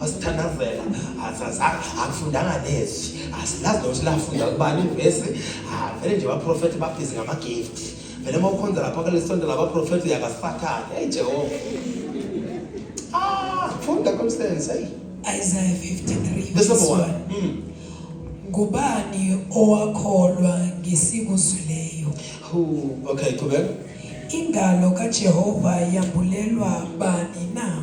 wasithandazela azazanga akufundanga nezwi asilazi nokuthi lafunda kubani ivesi vele nje baprofethi babhizi ngama-gift vele uma ukhonza lapha kulesonto labaprofethi uyakasathane eyi jehova ah funda komsebenzi eyi Isaiah 53 verse 1 hmm. ngubani owakholwa ngesikuzwileyo okay qhubeka ingalo kaJehova yambulelwa bani na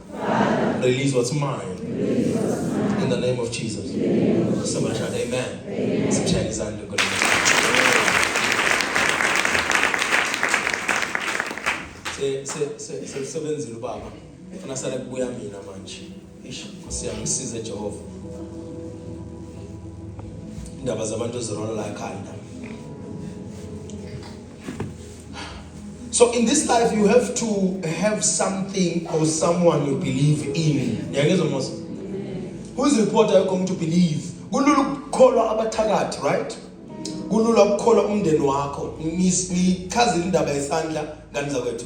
Release what's mine. In the name of Jesus. Somebody shout amen. Sikushayela izandla enkulu. Se se se se sebenzile ubaba. Ufuna sale kubuya mina manje. Ish, siyamsiza Jehova. Indaba zabantu zirola la ekhanda. So in this life you have to have something or someone you believe in. Yangizwa mos. Who is reporter you come to believe? Kulula ukukholwa abathakathi, right? Kulula ukukholwa umndeni wakho. Ngichaza indaba yesandla ngani zakwethu.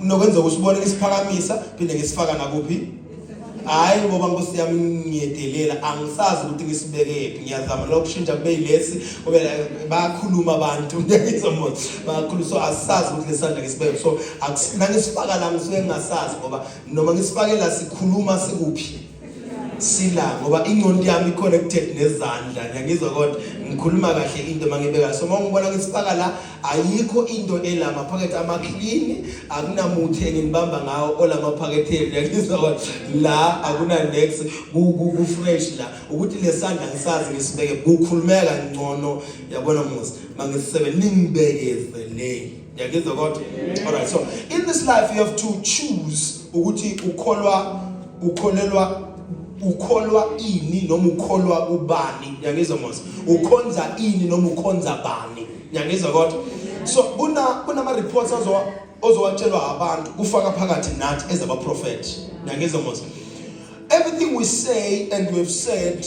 nokwenzeka usibone isiphakamisa phinde ngisifaka nakuphi hayi ngoba nkosi yami ngiyedelela angisazi ukuthi ngisibekephi ngiyazama lokho kushintsha kube yilesi kube bayakhuluma abantu ngiyizomona bayakhuluma so asisazi ukuthi lesandla ngisibeke so nangisifaka la ngisuke ngingasazi ngoba noma ngisifakela sikhuluma sikuphi sila ngoba ingqondo yami connected nezandla ngiyangizwa kodwa ngikhuluma kahle into mangibeka so mawungibona ngisifaka la ayikho into ela maphakethe ama clean akunamuthi enginibamba ngawo ola maphakethe ngiyangizwa kodwa la akuna next ku ku fresh la ukuthi lesandla ngisazi ngisibeke kukhulumeka ngcono yabona musa mangisebenzini ngibekeze le Ngiyagizwa kodwa. All right. So in this life you have to choose ukuthi ukholwa ukholelwa ukholwa ini noma ukholwa ubani ngiyangizwa mos ukhonza ini noma ukhonza bani ngiyangizwa kodwa so kuna kunama reports azowa ozowatshelwa abantu kufaka phakathi nathi as abaprofeti ngiyangizwa mos everything we say and we've said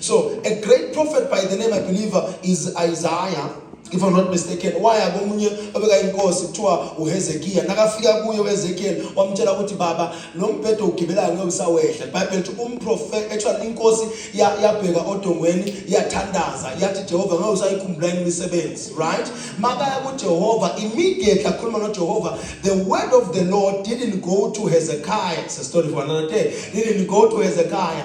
So a great prophet by the name I believe uh, is Isaiah if I'm not mistaken waya komunye obeka inkosi kuthiwa uHezekiya nakafika kuye uHezekiel wamtshela ukuthi baba lo mbhedo ugibelayo ngeke usawehla bible lithi umprofet actually inkosi yabheka odongweni yathandaza yathi Jehova ngeke usayikhumbula imisebenzi right makaya kuJehova immediately akhuluma noJehova the word of the Lord didn't go to Hezekiah it's a story for another day didn't go to Hezekiah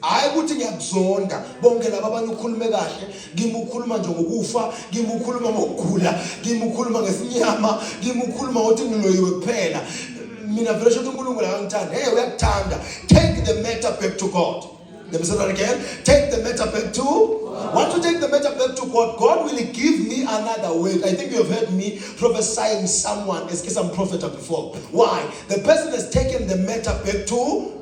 hayi ukuthi ngiyakuzonda bonke laba abanye ukhulume kahle ngimukhuluma nje ngokufa ngimukhuluma ngokugula ngimukhuluma ngesinyama ngimukhuluma ngokuthi ngiloyiwe kuphela mina vele shothi unkulunkulu akangithanda hey uyakuthanda take the matter back to god Let me say that again. Take the matter back to. Once you take the matter back to God, God will give me another way. I think you have heard me prophesying someone as I'm prophet before. Why? The person has taken the matter back to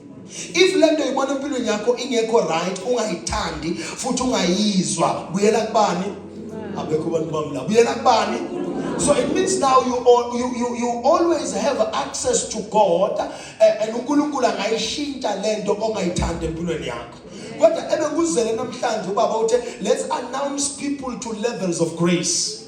If lento uyibona empilweni yakho ingekho right ungayithandi futhi ungayizwa buyela kubani? Abekho abantu bami la. Buyela kubani? So it means now you, all, you, you, you always have access to God eh, and uNkulunkulu angayishintsha lento ongayithandi empilweni yakho. Kodwa ebekuzele namhlanje ubaba uthe let's announce people to levels of grace.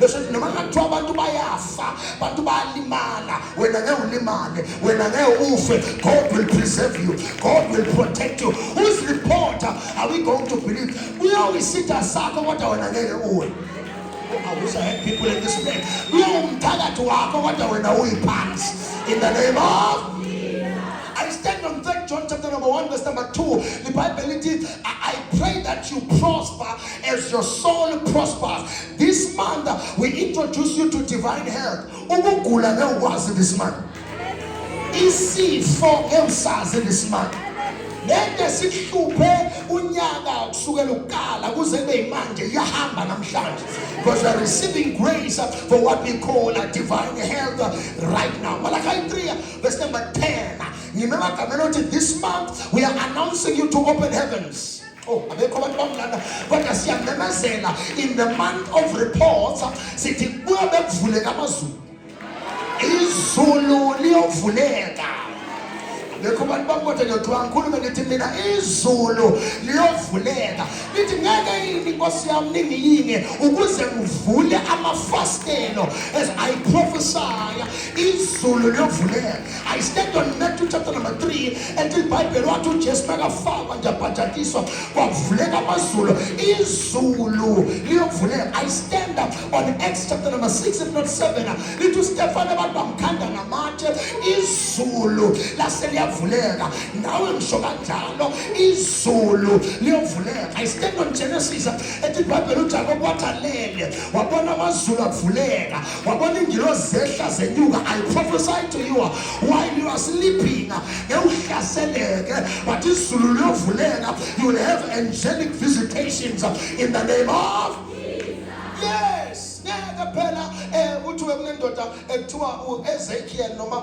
bese noma kungathiwa abantu bayafa abantu bayalimala wena ngeke ulimale wena ngeke ufe god will preserve you god will protect you whose reporter are we going to believe uyowisitha sakho kodwa wena ngeke uwe I wish I had people in this place. Uyawumthakathi wakho kodwa wena uyiphansi. In the name of I stand on 3 John chapter number 1 verse number 2. The Bible it is I, I pray that you prosper As your soul prospers this month, we introduce you to divine health. Ukugula ngewukwazi this month. Isifo ngewusazi this month. Lento esihluphe unyaka kusukela ukukala kuze kube imanje iyahamba namhlanje because we are receiving grace for what we call a divine health right now. Malachi 3 verse number 10. Ngimema gamela ukuthi this month we are announcing you to open heavens. Oh, abekho abantu bamlanda kodwa siyamemezela in the month of reports sithi kuyo bekuvuleka amazulu izulu liyovuleka lekho abantu bakoda ngiyodwa ngikhulume ngithi mina izulu liyovuleka lithi ngeke yini nkosi yami ningiyinge ukuze ngivule amafastelo as i prophesy izulu liyovuleka I stand on Matthew chapter number 3 ethi iBhayibheli wathi uJesu makafakwa nje abhajatiswa kwavuleka amazulu izulu liyovuleka I stand up on Acts chapter number 6 if not 7 lithi uStefano abantu bamkhanda ngamatshe izulu lase liyavuleka nawe ngisho kanjalo izulu liyovuleka I stand on Genesis ethi iBhayibheli uJakobe wathalele wabona amazulu avuleka wabona ingilozi zehla zenyuka i prophesy to you while you are sleeping ngewuhlaseleke but izulu liyovuleka you will have angelic visitations in the name of yes ngeke phela um kuthiwe kunendoda ekuthiwa uezekiel noma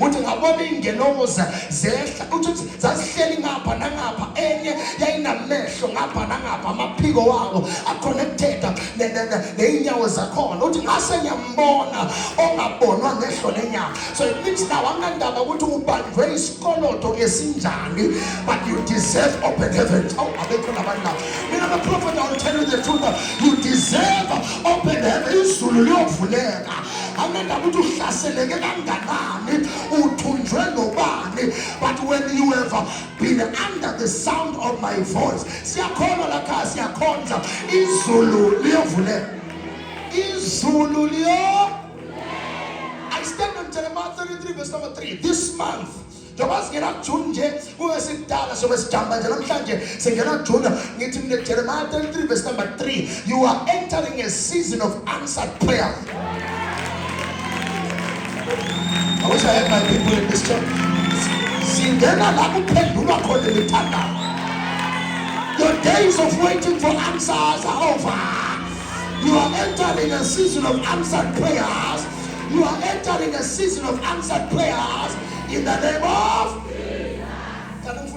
uthi ngabona iy'ngelokoza zehla uthi uthi zazihleli ngapha nangapha enye yayinamehlo ngapha nangapha amaphiko wako aconnecteda ney'nyawo zakhona uthi ngase ngiyambona ongabonwa ngehlo lenyama so it means now anganindaba ukuthi ubanjwe isikoloto esinjani but you deserve open heavens awu abekho labantu labo mina maprofeta will tell you the truth you deserve open heaven izulu liyovuleka angendaba ukuthi uhlaseleke kanganani uthunjwe nobani but when you have been under the sound of my voice siyakhona lakhaya siyakhonza izulu liyovuleka izulu liyo I stand on Jeremiah 33 verse number 3 this month njengoba singena kujuni nje kube sikudala sobe sijamba nje namhlanje singena kujuni ngithi mina jeremiya 33 verse number 3 you are entering a season of answered prayer I wish I had my people in this church. Singena la kuphendulwa khona imithandazo. Your days of waiting for answers are over. You are entering a season of answered prayers. You are entering a season of answered prayers. In the name of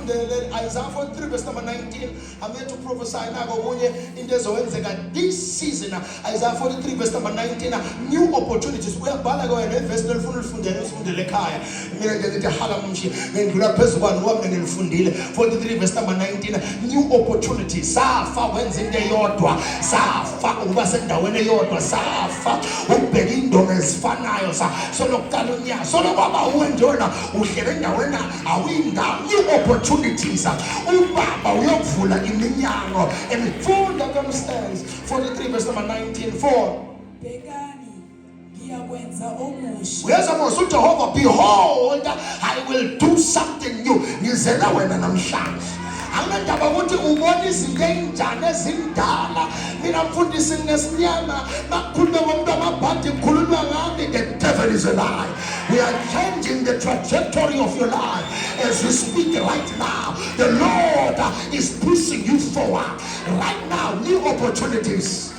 Fundele Isaiah 43 verse number 19. I'm here to prophesy now okunye into ezowenzeka this season. Isaiah 43 verse number 19. New opportunities. Uyabhala ke wena verse lolifuna ulifundele usifundele ekhaya. Mina nje ngithi hala mshi ngindlula phezulu kwani wami ngilifundile. 43 verse number 19. New opportunities. Safa wenza into eyodwa. Safa ukuba sendaweni eyodwa safa ukubheka indonga ezifanayo solokuqala unyaka solokwaba uwe njona uhlele endaweni awuyindawo i-opportunities ubaba uyokuvula iminyango emifunda komstans 43 verse number 19 4 ngiyakwenza omusha uyeza mos ujehova behold i will do something new ngizela wena namhlanje anginandaba ukuthi ubona izinto eyinjani ezindala mina mfundisi nginesinyama makukhulume ngomuntu amabhadi kukhulunywa ngami the devil is a lie we are changing the trajectory of your life as we speak right now the lord is pushing you forward right now new opportunities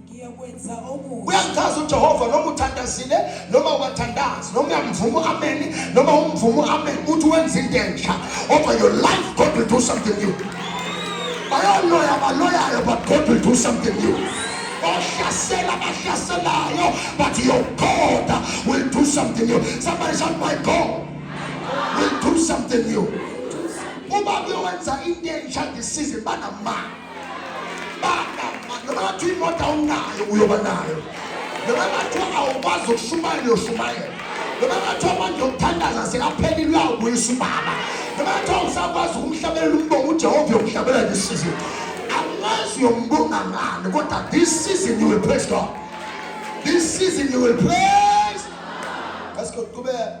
ngiyokwenza okuhle uyangichaza ujehova noma uthandazile noma uwathandazi noma uyamvuma u-ameni noma umvuma u-ameni uthi wenza into entsha over your life god will do something new bayaloya baloyayo but god will do something new ohlasela bahlaselayo but your god will do something new somebody shout my god will do something new uba kuyowenza into entsha ndisize banamali Bathi imoto awunayo uyoba nayo. Noma bathi awukwazi ukushumayela uyoshumayela. Noma bathi amandla okuthandaza sekaphelile uyawubuyisa ubaba. Noma bathi awusakwazi ukumhlabelela umbongo uJehova yokuhlabela ngesizini. Angazi uyombonga ngani kodwa this season you will praise God. This season you will praise. Let's go. Kubeka.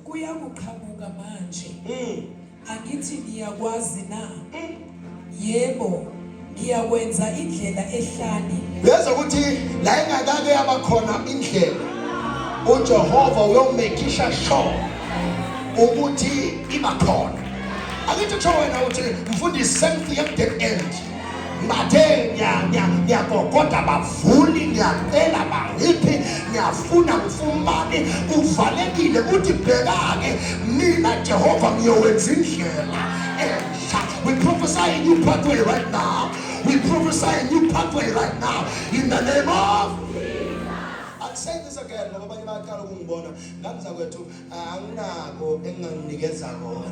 kuyakuqhamuka manje mm. angithi ngiyakwazi na mm. yebo ngiyakwenza indlela ehlani ngeza ukuthi la ingakake yabakhona indlela uJehova uyomekisha sho ukuthi iba khona angithi kusho wena uthi mfundisi same thing at the end bathe ngiyakokota bavuni ngiyacela bangiphi ngiyafuna ngifumane kuvalekile kuthi bhekake mina jehova ngiyowenza indlela entsha we prophesy a new pathway right now we prophesy a new pathway right now in the name of I'll say this again ngoba abanye bayaqala ukungibona ngangizakwethu anginako enginganikeza kona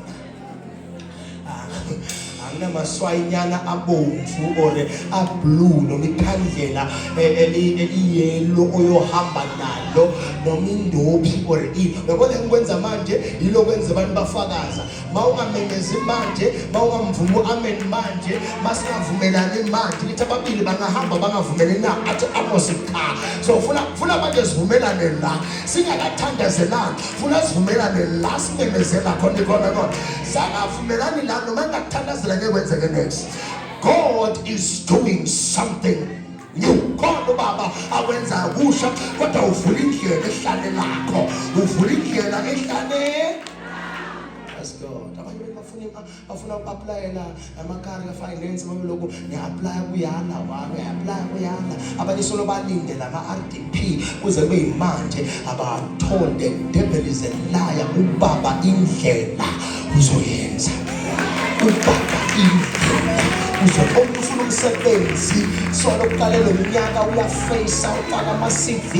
anginamaswayinyana abomvu or ablue noma ikhandlela eh, eliyelo oyohamba nalo noma indophi or i uyabona engikwenza manje yilo kwenza abantu bafakaza mawungamemezi manje mawungamvumi u-amen manje masingavumelani manje nithi ababili bangahamba bangavumelani na athi amos cha so funa funa manje sivumelane la singakathandazelani funa sivumelane la simemezela khona khona khona sangavumelani la noma ngakuthandazela ngeke kwenzeke next god is doing something Ngiwukhona ubaba awenzayo kusha kodwa uvula indlela ehlane lakho uvula indlela ehlane bafuna uku-aplayela amakari ka-finance babeloku ngiya-aplaya kuyala wami ngiya-aplaya kuyala abanye solo balindele ama-r d kuze kuyimanje abathole the devil is a liar ubaba indlela uzoyenza ubaba indlela uzoqoqa ufuna umsebenzi solo kuqale lo mnyaka uyafeyisa ufaka ama-cv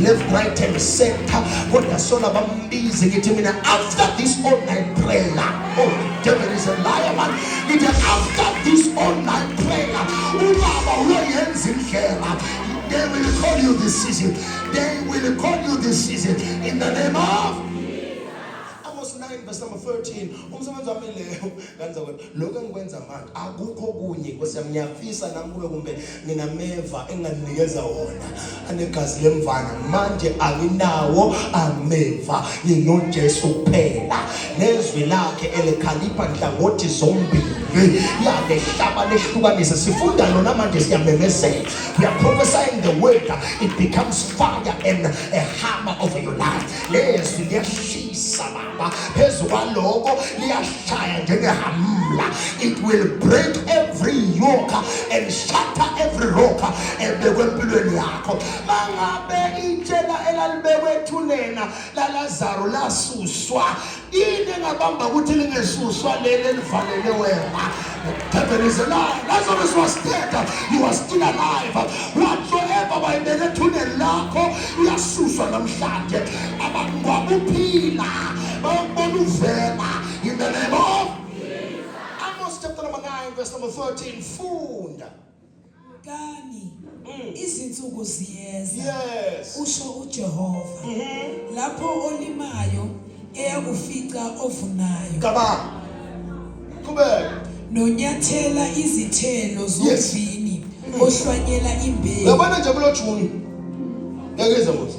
left right and center kodwa sona bambize ngithi mina after this online prayer oh devil is a liar man ngithi after this online prayer ubaba uyoyenza indlela They will call you this season. They will call you this season. In the name of Amos 9 verse number 13 umsebenzi wami leyo kanza kwena lokho engikwenza manje akukho kunye nkosi yami ngiyafisa nami kube kumbe nginameva enganinikeza wona anegazi lemvana manje anginawo ameva nginojesu kuphela ngezwi lakhe elikhalipha nhlangothi zombili yanehlaba lehlukanise sifunda lona manje siyamemezela we are prophesying the word it becomes fire and a hammer over your life lezwi liyashisa baba phezu kwaloko liyashaya njengehamla it will break every yoke and shatter every rock ebekwe empilweni yakho mangabe itshela elalibekwe ethunena laLazaro lasuswa yini engabamba ukuthi lingesuswa leli elivalele wena heaven is alive Lazarus was dead you are still alive whatsoever wayibeke ethuneni lakho uyasuswa namhlanje abangwabe uphila bayokubona uvela in the name of Amos chapter number 9 verse number 13 funda Bukani, Mm. izinsuku ziyeza, Yes. usho uJehova, Mhm. lapho olimayo eyakufica ovunayo, Cabanga. Qhubeka. nonyathela izithelo Yes. zomvini, ohlwanyela imbewu. Uyabona nje kulo June. Ngeke ize muthi.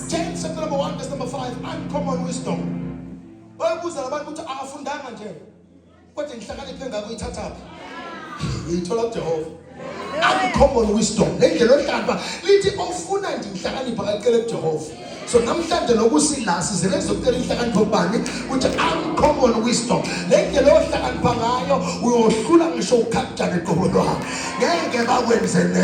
10 chapter number 1 verse number 5 uncommon wisdom wayebuza labantu ukuthi akafundanga nje kodwa inhlakanipho engako uyithathaphi uyithola kujehova uncommon wisdom le ndlela ohlamba lithi ofuna nje inhlakanipho akacele kujehova so namhlanje nokusila sizele kuzokutela inhlakanipho kubani ukuthi uncommon wisdom le ndlela ohlakanipha ngayo uyohlula ngisho ukhaktane qobo lwakhe ngeke bakwenze ne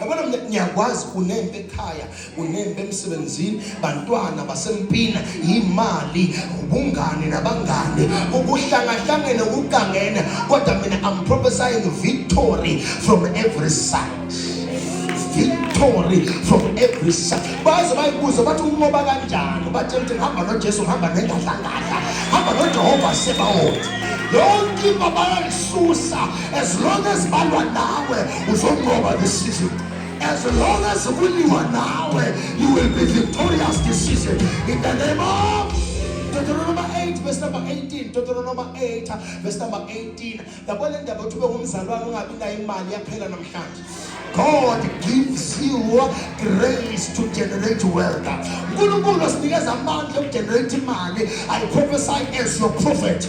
yabona mina ngiyakwazi unempe ekhaya unempe emsebenzini bantwana basempina yimali ubungane nabangane ukuhlangahlangene ukugangene kodwa mina i'm prophesying victory from every side victory from every side baze bayibuze bathi umoba kanjani bathe mthi hamba nojesu hamba nengadlangadla hamba nojehova sebawona yonke imba bayalisusa as long as balwa nawe uzonqoba this season as long as kuliwa nawe you will be victorious this season in the name of Deuteronomy 8 verse number 18 Deuteronomy 8 verse number 18 yabo le ndaba uthi bewumzalwane ungabi nayo imali yaphela namhlanje God gives you grace to generate wealth. uNkulunkulu asinikeza amandla okugenerate imali. I prophesy as your prophet.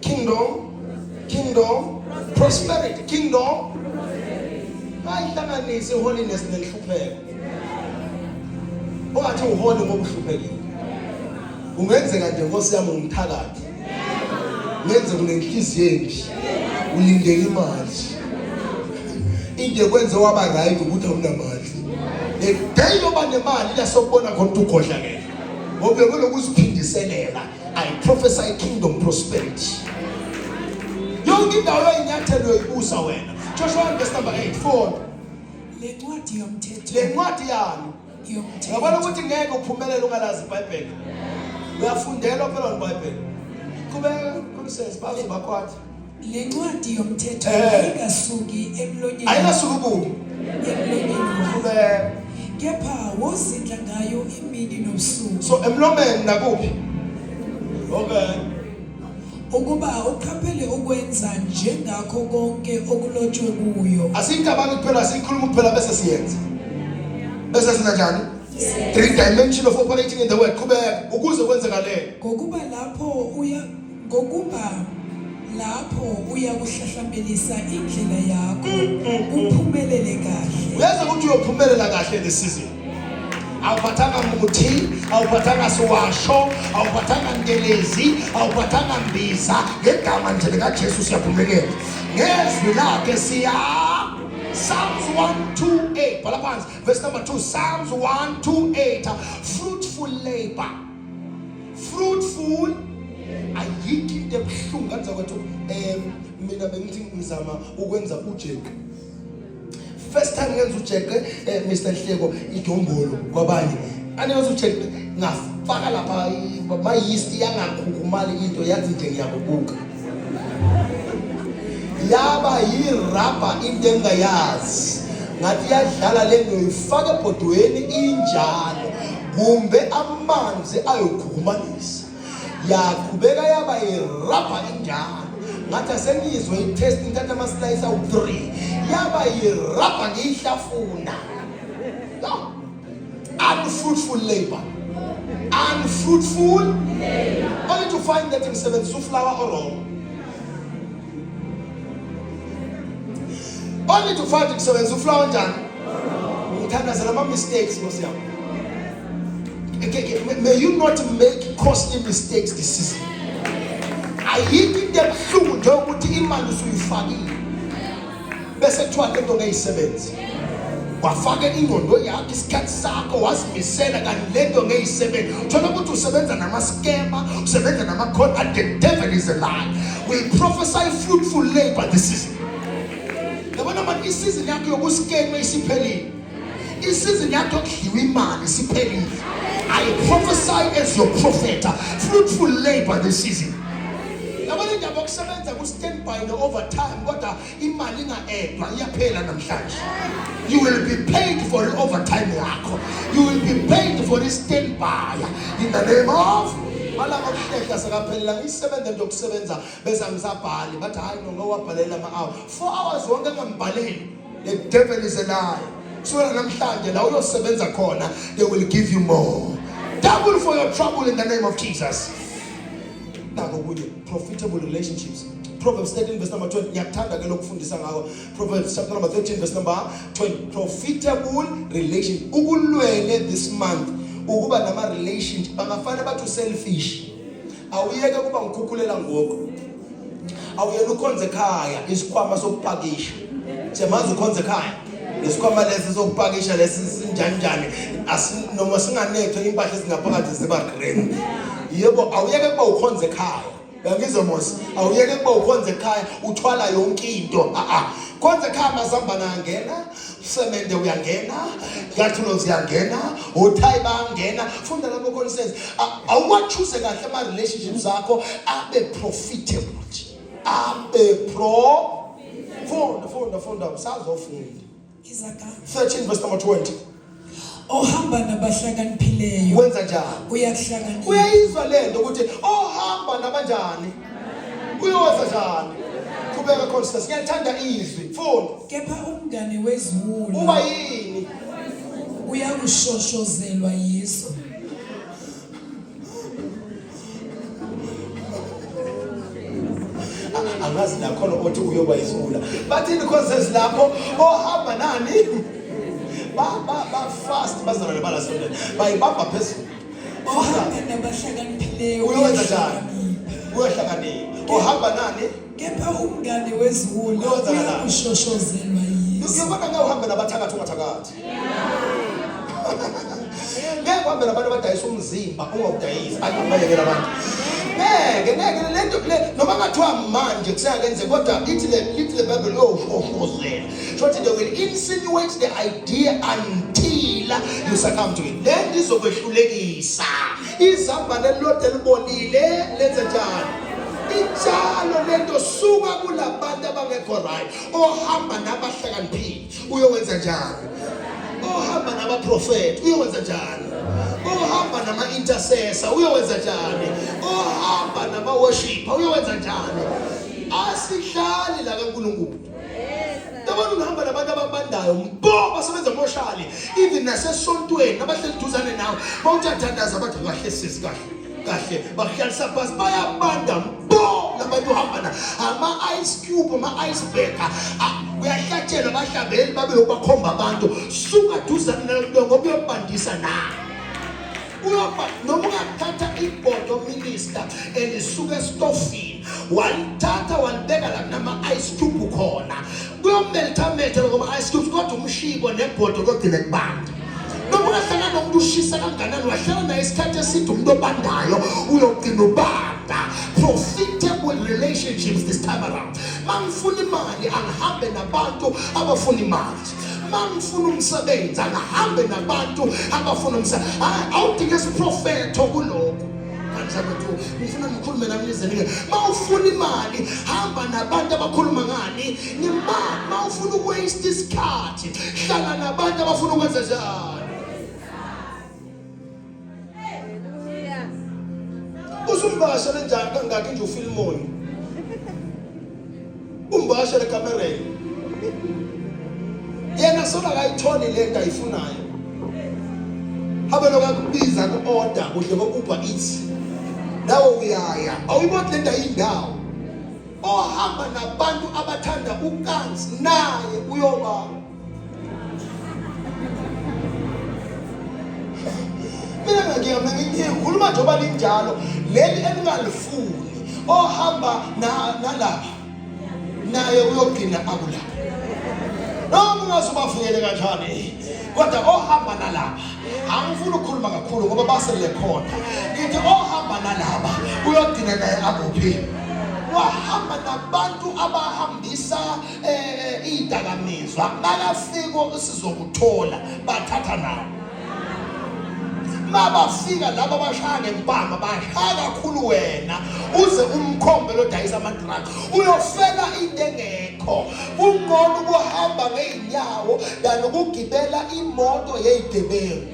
Kingdom, kingdom, prosperity, kingdom. Bayihlanganise holiness nenhlupheko. Ungathi uhole ngoba uhluphekile. Ungenzeka nje Nkosi yami umthakathi. Ngenze kunenhliziyo enhle. Ulindele imali. Into kwenze waba right ukuthi awunamali. The day yoba nemali la sokubona khona ukuthi ugodlakele. Ngoba uyobe lokuziphindiselela. I prophesy kingdom prosperity. Yonke indawo yinyathelo yokubusa wena. Joshua verse number 8 4. Le ncwadi yomthetho. Le ncwadi yami. Yomthetho. Yabona ukuthi ngeke uphumelele ungalazi iBhayibheli. Uyafundela phela iBhayibheli. Kubeka kumsebenzi bazo bakwathi. Le ncwadi yomthetho Eh. ayingasuki emlonyeni ayingasuki kubi emlonyeni wakho Khuleka. kepha wozindla ngayo imini nobusuku so emlomeni nakuphi okay ukuba uqaphele ukwenza njengakho konke okulotshwe kuyo asiyicabanga kuphela siyikhuluma kuphela bese siyenza bese sina njani three dimension of operating in the world qhubeka ukuze kwenzekalele ngokuba lapho uya Ngokuba lapho uyakuhlahlambelisa indlela yakho kuphumelele kahle. Uyazi ukuthi uyophumelela kahle le season. Awuphathanga muthi, awuphathanga siwasho, awuphathanga ntelezi, awuphathanga mbiza, ngegama nje likaJesu siyaphumelela. Ngezwi lakhe siya Psalms 128 bhala phansi verse number 2 Psalms 128 fruitful labor fruitful ayikho into ebuhlungu kanti zakwethu um mina bengithi ngizama ukwenza ujeqe first time ngenza ujeqe um eh, mr nhleko idombolo kwabanye anenza ujeqe ngafaka lapha mayisti yangakhukhumali into yathi nje ngiyakubuka yaba yirabha into engayazi ngathi iyadlala le nto ifake ebhodweni injalo kumbe amanzi ayokhukumanisa yaqhubeka yaba yirabha injalo ngathi asengizwe itest ngithatha amaslayisi awu-three yaba yirabha ngiyihlafuna unfruitful labor unfruitful only to find that ngisebenzisa uflower orong only to find ngisebenzisa uflower njani ngithandazela ama-mistakes nkosi yami may you not make costly mistakes this season ayikho into ebuhlungu njengokuthi imali usuyifakile bese kuthiwa le nto ngeyisebenzi wafaka ingqondo yakho isikhathi sakho wazimisela kanti le nto ngeyisebenzi thola ukuthi usebenza namaskema usebenza namakhona and the devil is a lie we prophesy fruitful labor this season yabona manje isizini yakho yokuskema isiphelile isizini yakho yokudliwa imali siphelile i prophesy as your prophet fruitful labor this season yabona indaba okusebenza ku-standby ne-overtime kodwa imali inga-edwa iyaphela namhlanje you will be paid for i-overtime yakho you will be paid for i-standby in the name of malanga okuhlehla sekaphelela ngiyisebenza nje okusebenza bese angisabhali bathi hhayi no ngowabhalela ama-hour four hours wonke engambhaleli The devil is a liar. Kusukela namhlanje la uyosebenza khona they will give you more. Double for your trouble in the name of Jesus. Nako kunye profitable relationships. Proverbs 13 verse number 20 ngiyakuthanda ke lokufundisa ngako. Proverbs chapter number 13 verse number 20 profitable relation. Ukulwele this month ukuba nama relationship bangafana bathu selfish. Awuyeke kuba ngikhukhulela ngoku. awuyena ukhonze ekhaya isikhwama sokupakisha siyamazi ukhonze ekhaya lesikhwama lesi sokupakisha lesi sinjanjani noma singanethwe impahla ezingaphakathi ziba green yebo awuyeke kuba ukhonze ekhaya uyangizwa mos awuyeke kuba ukhonze ekhaya uthwala yonke into a-a khonze ekhaya mazihambana angena usemende uyangena iyathulo ziyangena othayi bayangena funda lapho khona says awuwachuze kahle ama relationships akho abe profitable abe pro funda funda funda usazofunda 13 verse number 20 ohamba nabahlakaniphileyo wenza njani uyakuhlakanipha uyayizwa lento ukuthi ohamba nabanjani uyowenza njani qhubeka khona sisi ngiyathanda izwi mfuni kepha umngane weziwulu uba yini uyakushoshozelwa yiso angazi nakhona othi uyoba isula bathini courses lapho ohamba nani bafast bazalwane balasondela bayibamba phezulu ohambe nabahlakaniphileyo uyowenza njani uyohlakanipha ohamba nani kepha umngane weziwula uyoshoshozelwa yiso uyobona ngawuhambe nabathakathi ungathakathi ngeke kuhambela abantu abadayisa umzimba ungawudayisi ayikubalekela abantu ngeke ngeke le nto le noma ngathiwa manje kuseyakenze kodwa lithi le lithi le bible liyowushofozela shothi they will insinuate the idea until you succumb to it le nto izokwehlulekisa izambane elilodwa elibolile lenze njani injalo lento suka kulabantu abangekho right ohamba nabahlakaniphile uyowenza njani ohamba nabaprofethi uyowenza njani ohamba nama-intercessor uyowenza njani ohamba nama-worshipper uyowenza njani asihlali la kankulunkulu yabona ungihamba nabantu ababandayo mbo basebenza emoshali even nasesontweni abahleli duzane nawe bawuthathandaza bathi kahle sisi kahle kahle bakuhlalisa phasi bayabanda bo labantu uhamba na ama-ice cube ama-ice baker kuyahlatshelwa abahlabeli babe lokubakhomba abantu suka duzane nalomntu ngoba uyobandisa na uyoba noma ungathatha ibhodo minister elisuke estofini walithatha walibeka la kunama-ice cube khona kuyomele lithamethe lokuba-ice cubes kodwa umshibo nebhodo kodile kubanda noma ungahlala nomuntu ushisa kanganani wahlala naye isikhathi eside umuntu obandayo uyogcina ubanda profitable relationships this time around mangifuna imali angihambe nabantu abafuna imali mangifuna umsebenzi angihambe nabantu abafuna umsebenzi awudinge isiprofetho kulokho ngifuna ngikhulume nami nizenike uma ufuna imali hamba nabantu abakhuluma ngani ngemali uma ufuna ukuwaste isikhathi hlala nabantu abafuna ukwenza njani usumbasha lenjani kangaki nje ufilimoyo umbashe lekamereni yena sona akayitholi le nto ayifunayo habe lokakubiza ku-oda kuhle kokuba ithi nawe uyaya awuyiboni le nto ayindawo ohamba nabantu abathanda ukanzi naye uyoba mina ngiyakuyamna ngikhuluma njengoba linjalo leli elingalifuni ohamba nalapha naye uyogcina akulapha noma ungaze ubavuyele kanjani kodwa ohamba nalapha angifuni ukukhuluma kakhulu ngoba basele khona ngithi ohamba nalapha uyogcina naye akuphi wahamba nabantu abahambisa eh idakamizwa makafika sizokuthola bathatha nawo mabafika laba bashaya ngempama bashaya kakhulu wena uze umkhombe lodayisa amadrugs uyofela into engekho kungcono ukuhamba ngey'nyawo than ukugibela imoto yey'gebengu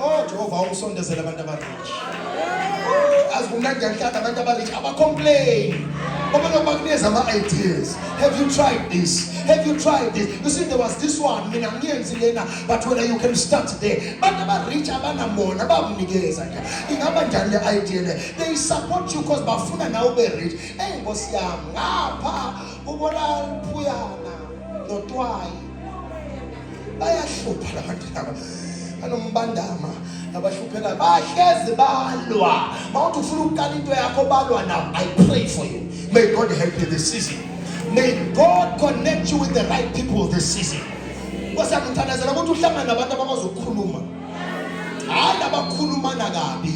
Oh Jehova awusondezele abantu abarich. Azi kumnandi ngiyakuthanda abantu abarich abacomplain. Ngoba noma kuneza ama-ideas. Have you tried this? Have you tried this? You see there was this one mina ngiyenzi lena but when you can start there. Abantu abarich abanamona bakunikeza nje. Ingaba njani le idea le? They support you because bafuna nawe ube rich. Hey Nkosi yami ngapha ubona phuyana notwayi bayahlupha labantu laba banombandama abahluphekayo bahlezi balwa mawuthi ufuna ukuqala into yakho balwa now i pray for you may god help you this season may god connect you with the right people this season kwasiyakuthandazela ukuthi uhlangane nabantu abakwazi ukukhuluma hayi labakhulumana kabi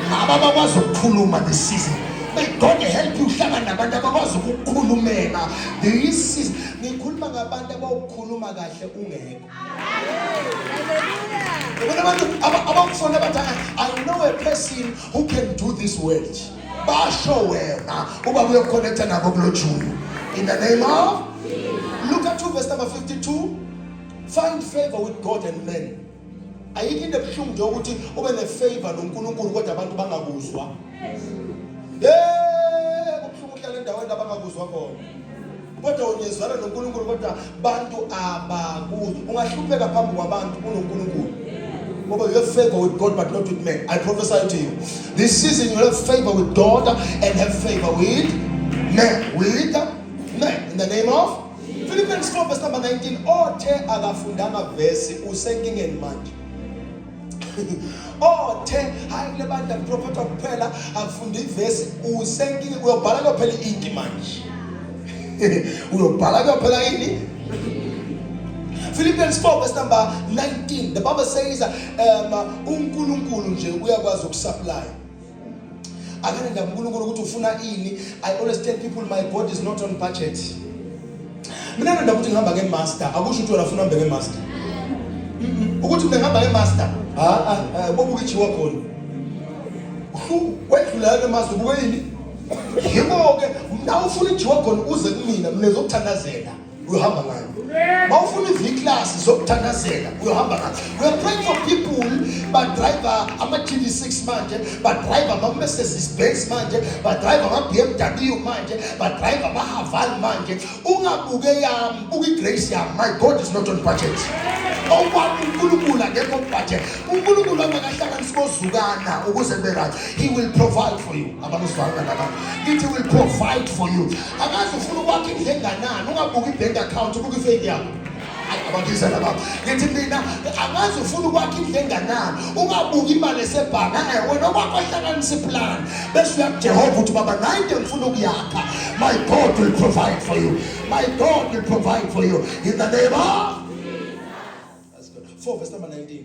ngaba bakwazi ukukhuluma this season may god help you uhlangana nabantu abakwazi ukukhulumela this season ngikhuluma ngabantu abawukhuluma kahle ungekho ubona abantu abakufona abathi i know a person who can do this word basho wena uba uyokhonekta nabo kulo julu in the name of luka 2 verse number 52 Find favor with God and men. Ayikho into ebuhlungu nje ukuthi ube ne favor noNkulunkulu kodwa abantu bangakuzwa. Eh, kubuhlungu uhlala endaweni abangakuzwa khona. Kodwa ungezwana noNkulunkulu kodwa abantu abakuzwa. Ungahlupheka phambi kwabantu kunoNkulunkulu. Ngoba you have favor with God but not with men. I prophesy to you. This season you have favor with God and have favor with men. With men in the name of Philippians 4 verse number 19 othe akafundanga vesi usenkingeni manje othe hayi le bandla liprofetha kuphela akufunde ivesi usenkingeni uyobhala kuyophela inki manje uyobhala kuyophela ini Philippians 4 verse number 19 the bible says um uNkulunkulu nje uyakwazi ukusupply akanenda uNkulunkulu ukuthi ufuna ini i always tell people my god is not on budget mina ngenda ukuthi ngihamba ke master akusho ukuthi wena ufuna hambe ke master ukuthi mina ngihamba ke master ha ha bobu kichiwa khona hlu wedlula ke master buke yini yiko ke mna ufuna ijiwa khona uze kumina mina zokuthandazela uyohamba ngayo mawufuna iviklasi zokuthandazela uyohamba ngayo we're praying for people badriva ama-tv six manje badriva ama-mercedes benz manje badriva ama-bmw manje badriva ama-haval manje ungabuke yami buka igrace yami my god is not on budget okwami unkulunkulu akekho budget unkulunkulu angakahlanganisi kozukana ukuze berathi he will provide for you abamuzwana nalaba ngithi will provide for you akazi ufuna ukwakha indlu enganani ungabuki i-bank account ubuka ifeyini yakho abakizela baba ngithi mina angazi ufuna ukwakha indlu enganani ungabuki imali esebhanga eh, wena okwakho ihlanganisa iplani bese uya kujehova ukuthi baba nayi into engifuna ukuyakha my god will provide for you my god will provide for you in the name of 4 verse number 19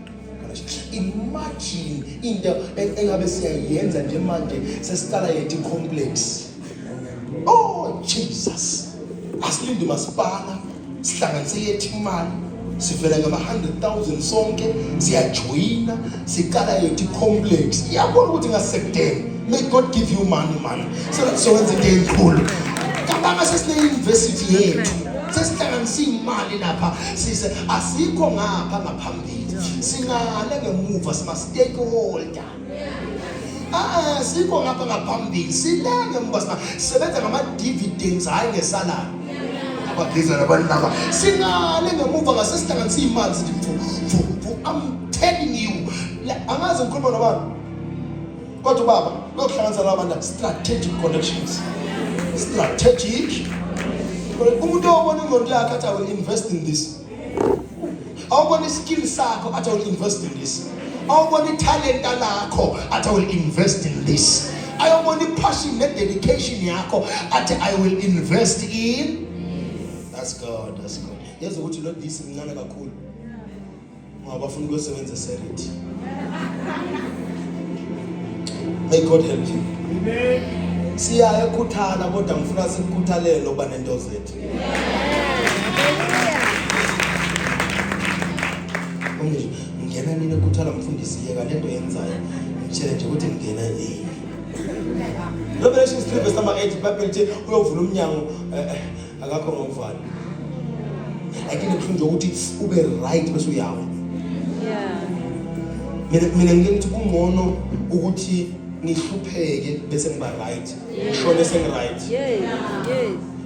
imagine into engabe siyayenza nje manje sesiqala yethu complex oh jesus asilinde masipala sihlanganise yethu imali sivela ngama-100,000 sonke siyajoyina siqala yethu complex iyabona ukuthi ngasekudeni may god give you money mani sokwenza into enkulu kabanga sesine-university yethu sesihlanganisa iy'mali lapha sise asikho ngapha ngapha singale ngemuva sima stakeholder Ah sikho ngapha ngaphambili sile ngemuva sima sebenza ngama dividends hayi ngesalary abageza nabanaba singale ngemuva ngase sihlanganisa imali sithi mfu mfu mfu I'm telling you angazi ngikhuluma nobaba kodwa baba lokuhlanganisa labantu strategic connections strategic umuntu obona ingqondo yakhe athi i will invest in this awubona iskill sakho athi will invest in this awubona italenta lakho athi will invest in this ayobona ipassion nededication yakho athi i will invest in that's god that's god yazi ukuthi lo this mncane kakhulu Abafuna ukusebenza serit. May God help you. Amen. Siya ekuthana kodwa ngifuna sikukhuthalele uba nento zethu. Amen. Ngena nini ekuthana mfundisi yeka lento yenzayo. Ngitshele nje ukuthi ngena yini. Revelation 3 verse number 8 Bible ithi uyovula umnyango eh, eh, akakho ngokuvana lakini kubuhlungu nje ukuthi ube right bese uyawa mina mina ngike ngithi kungcono ukuthi ngihlupheke bese ngiba right ngishone sengi-right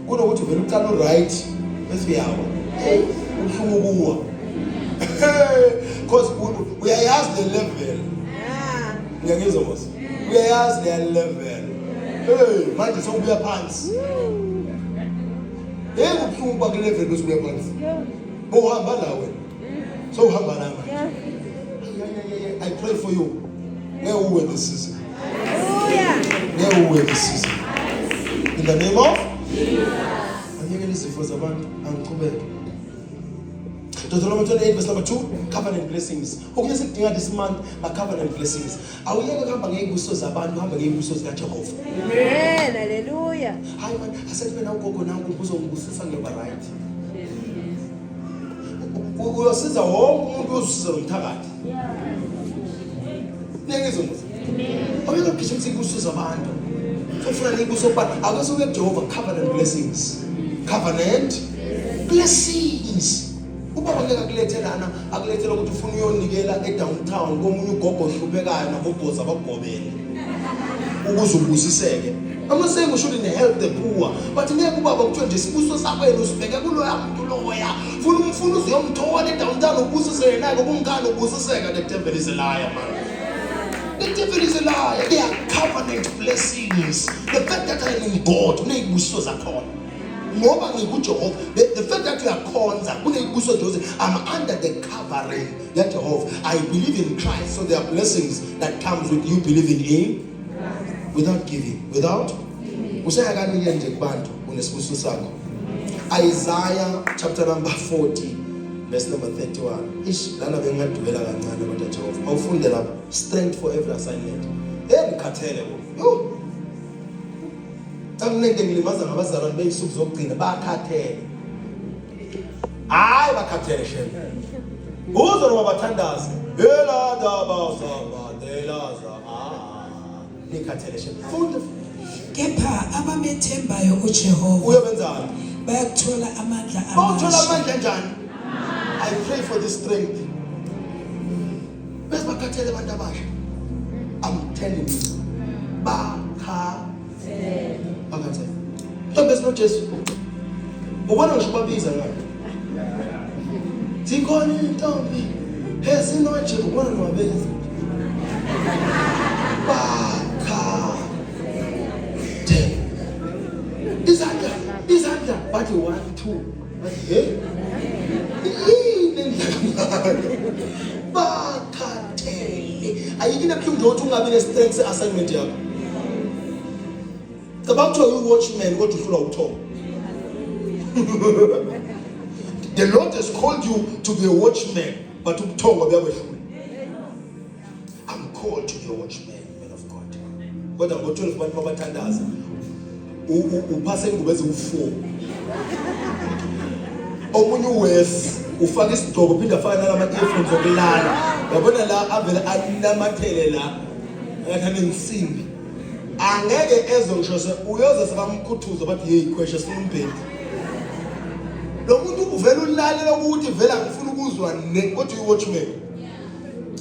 kunokuthi vele uqala u-right bese uyawa eyi ubuhlungu kuwa because uyayazi le level ngiyangizwa mos uyayazi leya level hey manje sokubuya phansi hey kubuhlungu ukuba kule level bese ubuya phansi bohamba la wena sowuhamba la manje i pray for you ngeke uwe this season ngeke uwe this season in the name of anyekele izifo zabantu angiqhubeke Deuteronomy 28 verse number 2 covenant blessings okunye sikudinga this month ma covenant blessings Awuyeke kuhamba ngey'buso zabantu uhambe ngey'buso zikaJehova. Amen. Hallelujah. Hayi mani asethi mina ugogo nangu uzongibusisa ngiyoba right. U- Uyosiza wonke umuntu ozisiza nomthakathi. Nengizwe musa. Awuyeke kugijimisa iy'buso zabantu. Ufuna ney'buso kubantu. Akwese uye kuJehova covenant blessings. Covenant blessings. ubaba ngeke akulethe lana akulethela ukuthi ufuna uyonikela edowntown komunye ugogo ohluphekayo nabobhozi abakugobele ukuze ubusiseke I'm not saying we shouldn't help the poor but ngeke ubaba kuthiwe nje isibuso sakwenu usibheke kuloya muntu loya funa umfuna uzuyomthola edowntown ubusise yena-ke kungani ubusiseka the devil is a liar man The devil is a liar. They are covenant blessings. The fact that I am in God, uneyibusiso zakhona. ngoba ngikujehova the, the fact that uyakhonza kuneyikuso nje ukuthi i'm under the covering yajehova i believe in christ so there are blessings that comes with you believing in without giving without usaya kanike nje kubantu unesibusiso sakho isaiah chapter number 40 verse number 31 ish lana bengingadulela kancane kodwa jehova awufunde lapho strength for every assignment hey ngikhathele bo Cakulente ngilimaza ngabazalwane beyisuku zokugcina bakhathele. Hayi bakhathele shembe. Uzwe noma bathandaze. Hela daba zaba delaza. Ah. Nikhathele shembe. Funda. Kepha abamethembayo uJehova. Uyobenzani? Bayakuthola amandla amasha. Bawuthola amandla njani? I pray for the strength. bese bakhathele abantu abasha i'm telling you bakhathele bakhathele so bese no Jesu ubona ngisho babiza ngani zikhona intombi ezinoje ubona nwabenzi bakhathele izandla izandla bathi 1 2 bakhathele ayikho into ebuhlungu ukuthi ungabi ne-strength se-assignment yakho cabanga kuthiwa uyi-watchman kodwa uhlulwa ukuthoma the lord has called you to be a watchman but ubuthongo buyakwehlula I'm called to be a watchman, man of God. Kodwa ngo-12 abantu babathandaza. Uphase ingubo eziwu-4. Omunye uwesi ufaka isigqoko phinde afaka nalama-earphones okulala. Yabona la avele anamathele la. Ngathi anensimbi. Angeke ezwe ngisho se uyoze sebamkhuthuza bathi hey khweshe sifuna umbhedi. Lo muntu uvela ulalela ukuthi vela ngifuna ukuzwa ne kodwa uyi-watchman.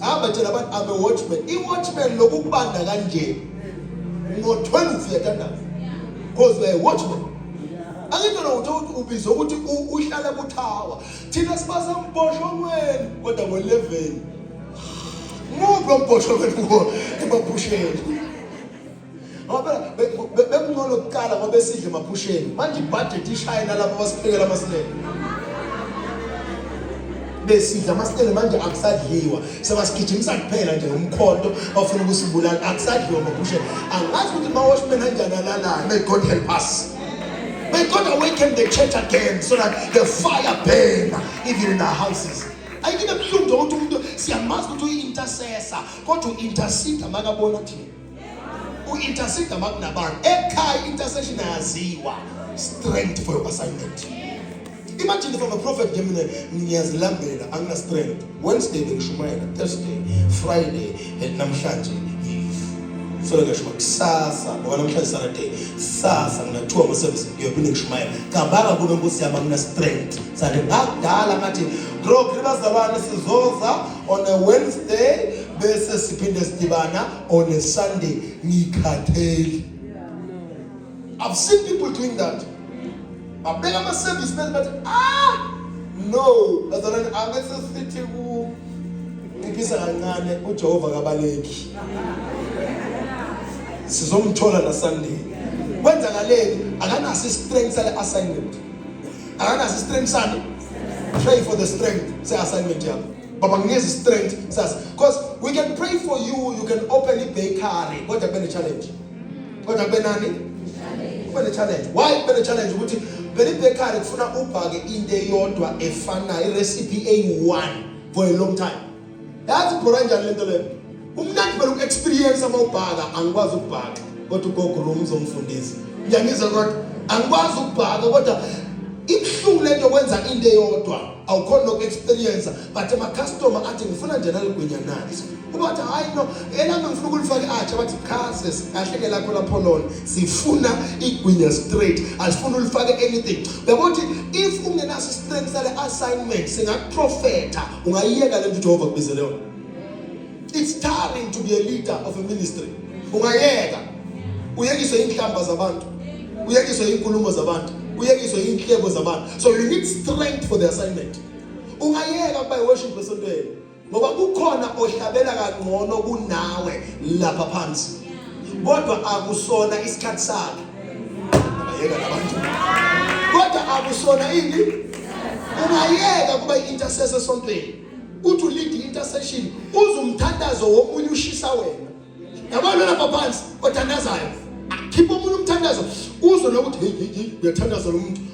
hamba tshela abantu I'm a watchman i-watchman lokukubanda kanje ngo-12 uyathandaza because we're a watchman angithi lowuthi ukuthi ubizwe ukuthi uhlala kuthawa thina sibasa mbhoshongweni kodwa ngo-11 muphi lo mbhoshongweni kuwo emaphusheni ngoba bekungcono kuqala ngoba esidle emaphusheni manje ibhajethi ishayela lapho basiphekela amasilele besidla amasitele manje akusadliwa sebasigijimisa kuphela nje umkhonto bafuna ukusibulala akusadliwa maphushe angazi ukuthi mawashman anjani alalayo may god help us may god awaken the church again so that the fire burn even in our houses ayikine buhlungu nje ukuthi umuntu siyamazi ukuthi uyi-intercessor kodwa u-interceda makabona thina U-intercede uma kunabantu ekhaya i-intercession ayaziwa strength for your assignment imagine from a prophet nje mina ngiyazilambela angina strength wednesday bengishumayela thursday friday eh, namhlanje so ngisho kusasa ngoba namhlanje saturday sasa nginathiwa ngosebenzi ngiyophinde ngishumayela cabanga kube nkosi yami angina strength sathi ngakudala ngathi bro khibazalwane sizoza on a Wednesday bese siphinde sidibana on a Sunday ngikhatheli I've seen people doing that babeka ama service men bathi ah no bazalwane abese sithi ku ngiphisa kancane uJehova kabaleki sizomthola na Sunday kwenzakaleni akanaso i-strength sale assignment akanaso strength sami pray for the strength se assignment yakho baba nginikeza strength sas because we can pray for you you can open a bakery kodwa kube ne challenge kodwa kube nani kube ne challenge why kube ne challenge ukuthi vele ibakery kufuna ubhake into eyodwa efanayo irecipe eyi-one for a long time yazi bhora kanjani lento leyo umnandi phela uku-experience uma ubhaka angikwazi ukubhaka kodwa ugogo lo mzomfundisi ngiyangizwa kodwa angikwazi ukubhaka kodwa ibuhlungu lento yokwenza into eyodwa awukhona noku-experience but amacustomer athi ngifuna nje naligwenyanani kuba wathi hhayi no elami ngifuna ukulifake atsha bathi khase kahle ke lakho lapho lona sifuna igwinya straight asifuna ulifake anything uyabo ukuthi if ungenaso istrength sale assignment singakuprofetha ungayiyeka lento uJehova kubizele yona it's tiring to be a leader of a ministry ungayeka uyekiswe inhlamba zabantu uyekiswe inkulumo zabantu uyekiswe inhlebo zabantu so you need strength for the assignment ungayeka ukuba worship esontweni ngoba kukhona ohlabela kangcono kunawe lapha phansi kodwa akusona isikhathi sakhe ayeka labantu kodwa akusona ini ungayeka kuba i-intercessor esontweni uthi ulide i-intercession uze umthandazo womunye ushisa wena yabona lapha phansi othandazayo khipha omunye umthandazo uzwe nokuthi hey hey uyathandaza lo muntu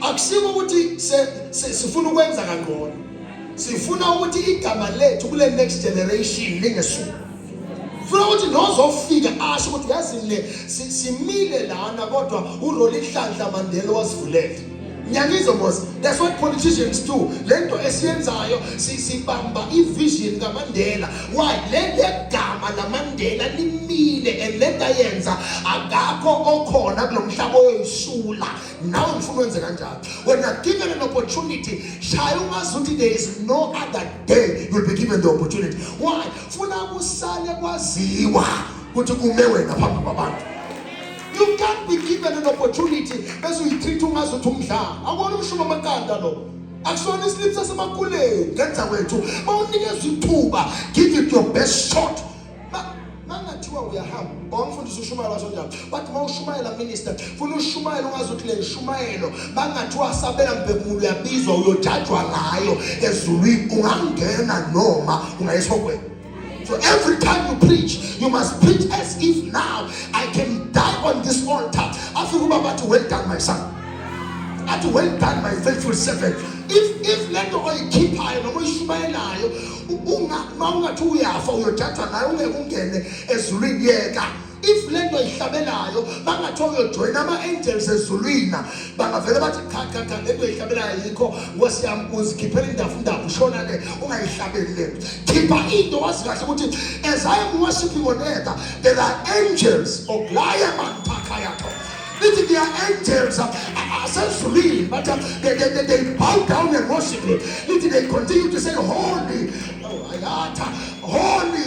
akusiko ukuthi sifuna ukwenza kangcono sifuna ukuthi igama lethu kule next generation lingesuku funa ukuthi nozofika asho ukuthi yazi le simile lana kodwa urolihlanhla mandela wasivulele Ngiyanizwa boss. That's what politicians do. Lento esiyenzayo sibamba ivision kaMandela. Why? Le legama laMandela limile and lento ayenza akakho okhona kulomhlaba oyisula. Nawe ngifuna wenze kanjalo. When you're given an opportunity, shaya ungazuthi there is no other day you'll be given the opportunity. Why? Funa kusale kwaziwa ukuthi kume wena phambi kwabantu. You can't be given an opportunity bese uyitreat ungazi ukuthi umdlalo. Akona umshuba amaqanda lo. Akusona islip sasemakhuleni ngenza kwethu. Bawunikeza ithuba, give it your best shot. Mangathiwa uyahamba, bawumfundisa ushumayela wasonjalo. But mawushumayela minister, funa ushumayela ungazi ukuthi le nshumayelo bangathiwa sabela mbhekumulo uyabizwa uyojajwa ngayo ezulwini ungangena noma ungayesogweni. So every time you preach, you must preach as if now I can die on this altar. After Uba, but well done, my son. At well done, my faithful servant. If if let the oil keep high, no more shumayelayo, unga maunga tu yafa, uyothatha nayo ungekungene ezulini yeka. if le nto ihlabelayo bangathiwa uyojoyina ama-angels ezulwini bangavele bathi cha cha cha le nto ihlabelayo yikho nkosi yami uzikhiphela indafu ndafu ushona le ungayihlabeli le nto khipha into wazi kahle ukuthi as i am worshiping on earth there are angels okulaya manthakha yakho lithi they are angels asezulwini but uh, they, they, they, they bow down and worship him lithi they continue to say holy oh, ayatha holy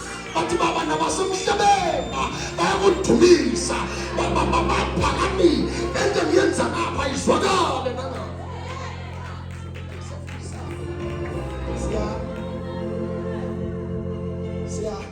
bathi baba nabasemhlabeni bayakudumisa baphakami ento ngiyenza ngapha izwakale Yeah.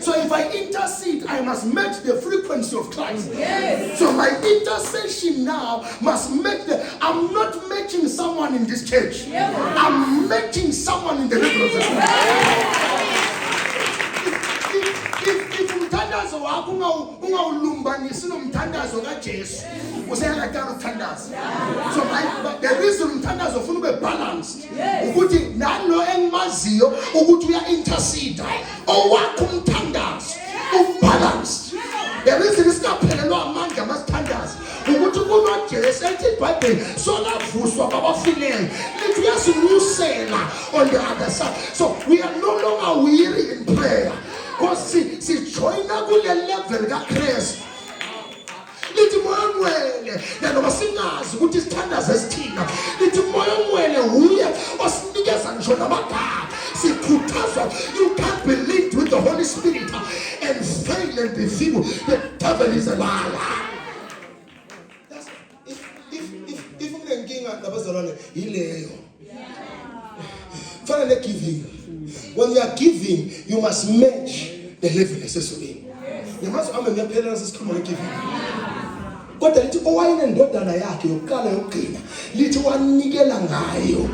So if I intercede, I must match the frequency of Christ. Yes. So my intercession now must match the. I'm not matching someone in this church. Yes. I'm matching someone in the heaven. umthandazo wakho ungawulumbanisi nomthandazo kajesu useyakadala ukuthandaza so the reason umthandazo ufuna ube balanced ukuthi nalo engimaziyo ukuthi uya intercede owakho umthandazo ubalance yabo izinto singaphelelwa amandla masithandaza ukuthi kunojesu ethi ibhayibheli solavuswa kwabafileyo lithi uyasinyusela on the other side so we are no longer weary in prayer because sijoyina kule level kakristu lithi moya ongcwele nanoma singazi ukuthi isithandazo esithina lithi moya ongcwele wuye osinikeza ngisho namagama sikhuthazwa you can't be linked with the holy spirit and fail and be feeble the devil is a liar if if if if unenkinga nabazalwane yileyo fanele giving when you are giving you must match the level esesukeni ngamazwi ami ngiyaphela nasesikhuluma ngegiving kodwa lithi owayenendodana yakhe yokuqala yokugcina lithi wanikela ngayo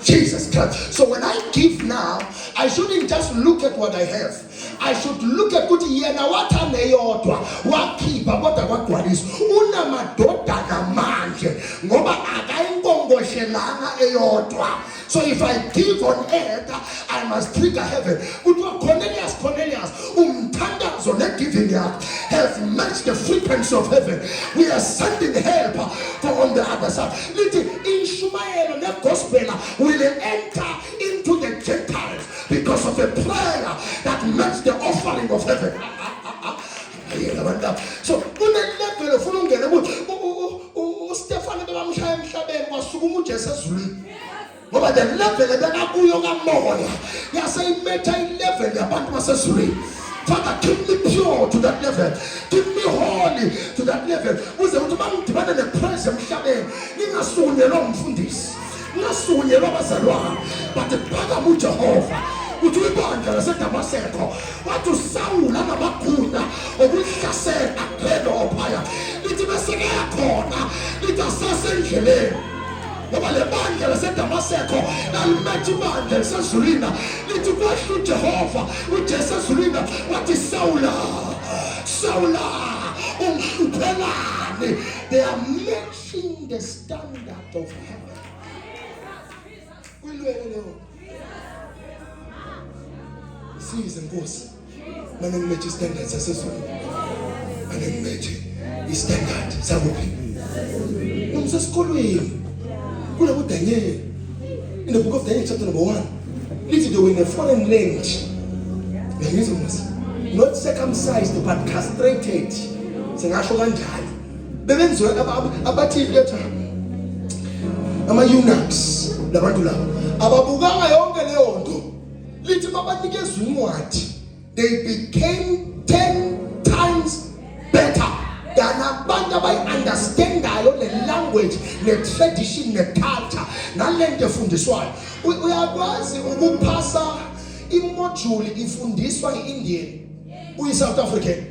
Jesus Christ. So when I give now, I shouldn't just look at what I have. I should look at ukuthi yena wathanda eyodwa wakhipha kodwa kwagcwalisa unamadoda kamanje ngoba akayinkongoshelanga eyodwa so if i give on earth i must trigger heaven kuthiwa cornelius cornelius umthandazo ne-giving yakho has matched the frequency of heaven we are sending help for on the other side lithi inshumayelo negospela will enter because of a prayer that matched the offering of heaven. So kunelebhele ufuna ungene ukuthi uStefane bebamshaya emhlabeni wasukuma uJesu ezulwini. Ngoba the level ebekakuyo kamoya yase imetha ilevel yabantu basezulwini. Father, keep me pure to that level. Keep me holy to that level. Uze uthi bangidibane nepraise emhlabeni. Ngingasukunyelwa umfundisi. Uyasukunyelwa abazalwana but phakama uJehova uthi ibandla laseDamaseko wathi uSawula namagunya okulihlasela akuphendwa ophaya lithi beseke khona lithi asasendleleni ngoba le bandla laseDamaseko lalimetha ibandla lisezulwini lithi kwehla uJehova uJesu ezulwini wathi Sawula Sawula ungihluphela they are matching the standard of heaven. Uyilwele leyo. Size Nkosi. Manje ngimethi standard sasezulu. Manje ngimethi istandard sakuphi? Umsesikolweni. Kule kuDaniel. In the book of Daniel chapter number 1. Lithi they were in a foreign land. Ngizwe Nkosi. Not circumcised but castrated. Singasho kanjalo. bebenziwa abathile letha ama-unaks labantu labo ababukanga yonke leyo nto lithi babanikeza incwadi they became ten times better than abantu abayi-understandayo ne-language ne-tradition ne-culture nale nto efundiswayo uyakwazi ukuphasa imojuli ifundiswa i-indian uyi-south african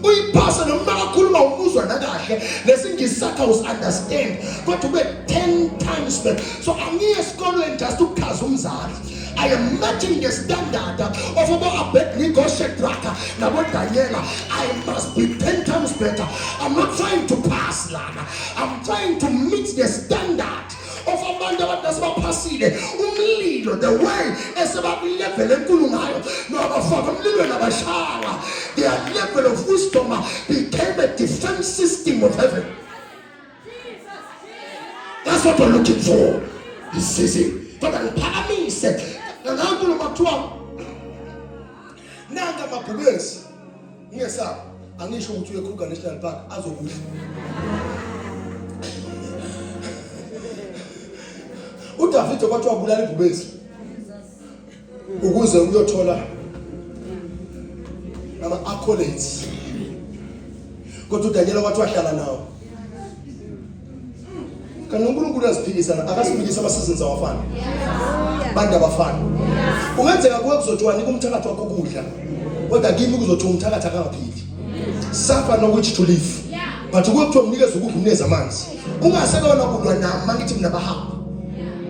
uyiphasa noma akakhuluma ukuzwa nakahle lesingisi sakhe usi-understand kodwa ube 10 times back so angiye esikolweni just ukuchaza umzali I am matching the standard of Obo Abednego, Shadrach, Nabo Daniela. I must be 10 times better. I'm not trying to pass, Lana. I'm trying to meet the standard. of abantu abantu asebaphasile umlilo the way esebakulevel enkulu ngayo nabafaka umlilweni abashaya their level of wisdom became a defense system of heaven that's what we're looking for this season fana ngiphakamise nangankulu makuthiwa nanga mabhubesi Ungesabi, angisho ukuthi uye Kruger National Park azokudla. uDavide kwathi wabulala ibhubesi ukuze uyothola ama accolades kodwa uDaniel wathi wahlala nawo kanti uNkulunkulu uyaziphikisa akasiphikisa abasizini sawafana bantu abafana kungenzeka kuwe kuzothiwani kumthakathi wakho ukudla kodwa kimi kuzothiwa umthakathi akangaphili safa nokuthi to live but kuwe kuthiwa mnikeze ukudla umneze amanzi ungasekona kulwa nami mangithi mina bahamba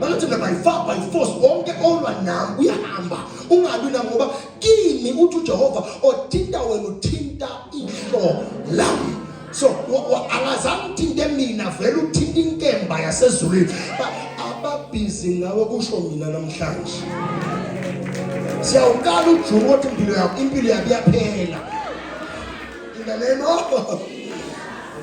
mangithi mina by far by force wonke olwa nami uyahamba ungalwi nami ngoba kimi uthi ujehova othinta wena uthinta ihlo lami so akazange uthinte mina vele uthinta inkemba yasezulwini ababhizi ngawe kusho mina namhlanje siyawukala ujuku othi impilo yakho impilo yakho iyaphela in the name of